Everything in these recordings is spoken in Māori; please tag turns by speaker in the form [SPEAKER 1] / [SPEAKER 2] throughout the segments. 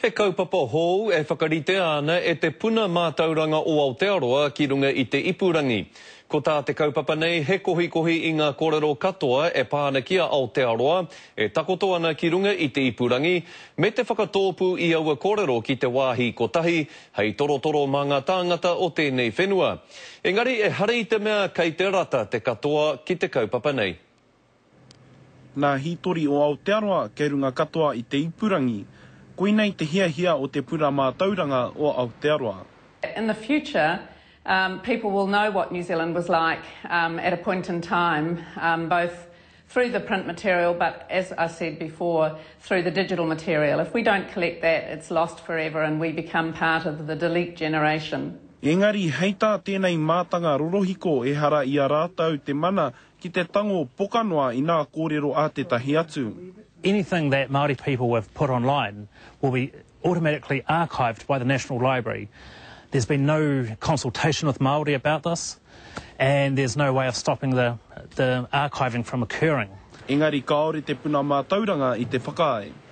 [SPEAKER 1] He kaupapa hou e whakaritea ana e te puna mātauranga o Aotearoa ki runga i te ipurangi. Ko tā te kaupapa nei he kohikohi i ngā korero katoa e pā ana ki a Aotearoa e takoto ana ki runga i te ipurangi, me te whakatōpū i aua korero ki te wāhi kotahi hei torotoro mā ngā tāngata o tēnei whenua. Engari ehara i te mea kei te rata te katoa ki te kaupapa nei.
[SPEAKER 2] Nā hītori o Aotearoa kei runga katoa i te ipurangi, koinei te hiahia o te pura mātauranga o Aotearoa. In the
[SPEAKER 3] future, people will know what New Zealand was like at a point in time, both through the print material but, as I said before, through the digital material. If we don't collect that, it's lost forever and we become part of the delete generation. Engari, hei
[SPEAKER 2] tā tēnei mātanga rorohiko ehara i a rātou te mana Ki te tango poka noa i nā kōrero a tētahi atu. Anything that
[SPEAKER 4] Māori people have put online will be automatically archived by the National Library. There's been no consultation with Māori about this and there's no way of stopping the the archiving from occurring. Engari kāore
[SPEAKER 2] te puna mātauranga i te whakaae.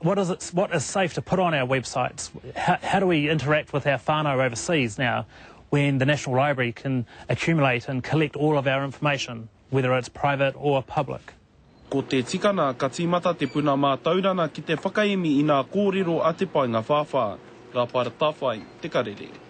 [SPEAKER 4] What is it, what is safe to put on our websites? How, how do we interact with our whānau overseas now when the National Library can accumulate and collect all of our information, whether it's private or public? Ko te
[SPEAKER 2] tikana ka tīmata te puna mātaurana ki te whakaemi i nā kōrero a te paenga whāwhā, Rapa Ratawhai, Te Karere.